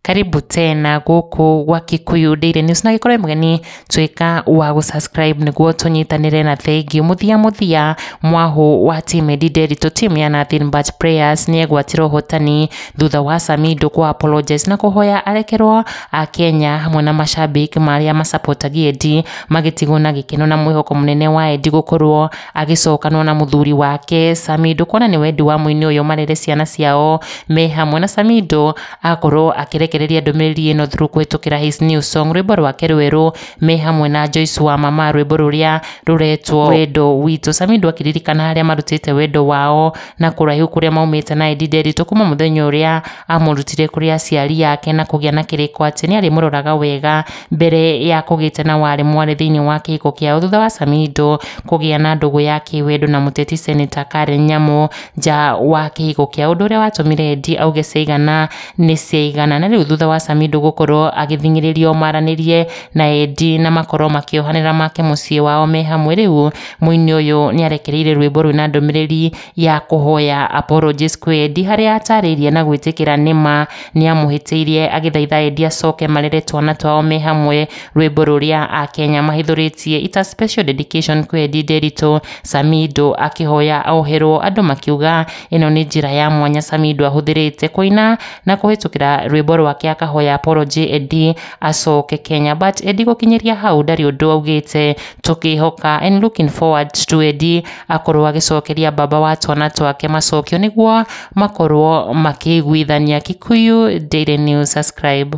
karibu tena gũkũ gwa kikuyu daily news na gĩkorwo mũgeni tuĩka wa gũsubscribe nĩguo tũnyitanĩre na thengi mũthia mũthia mwahũ wa team Eddy Nderitu team ya Nothing But Prayers nĩegwatĩra ũhotani thutha wa Samido kũ apologize na kũhoya arekerwo a Kenya hamwe na mashabik marĩa masapotagia Edi magĩtigwo na gĩkeno na mwĩhoko mũnene wa Edi gũkorwo agĩcokanwo na mũthuri wake Samido kuona nĩ wendi wa mũini ũyũ marere ciana ciao me hamwe na Samido akorwo akĩrekereria ndũmĩrĩri ĩno through kũhĩtũkĩra his new song rwĩmbo rwake rwerũ me hamwe na Joyce wa mama rwĩmbo rũrĩa rũretwo wendo witũ Samido akĩririkana harĩa marutĩte wendo wao na kũraihu kũrĩa maumĩte na Edi Nderitũ kuma mũthenya ũrĩa amũrutire kũrĩ aciari ake na kũgĩa na kĩrĩko atĩ nĩ arĩmũroraga wega mbere ya kũgĩte na warĩ mwarĩ thĩinĩ wa kĩhiko kĩao thutha wa Samido kũgĩa na ndũgũ ya kĩwendo na mũteti seneta Karen Nyamũ nja wa kĩhiko kĩa ũndũ ũrĩa watũmire Edi auge ciaigana nĩ ciaigana na rĩu thutha wa Samido gũkorwo agĩthing'ĩrĩrio maranĩrie na Edi na makorwo makĩohanĩra make mũciĩ wao me hamwe rĩu Mũini ũyũ nĩ arekereire rwĩmbo rwĩ na ndũmĩrĩri ya kũhoya Apology Squared harĩa atarĩirie na gwĩtĩkĩra nĩ ma nĩ amũhĩtĩirie agĩthaitha endi acoke marere twana twao me hamwe rwĩmbo rũrĩa Akenya mahithũrĩtie It's a special dedication kwĩ Endi Nderitu Samido akĩhoya oherwo andũ makiuga ĩno nĩ njĩra ya mwanya Samido ahũthĩrĩte kũina na kũhĩtũkĩra rwĩmbo rwake akahoya apology Endi acoke Kenya but Endi gũkinyĩria hau ndarĩ ũndũ augĩte tũkĩhoka and looking forward to Eddie akorwo agĩcokeria baba wa twana twake macokio nĩguo makorwo makĩiguithania. Kikuyu Daily News, subscribe.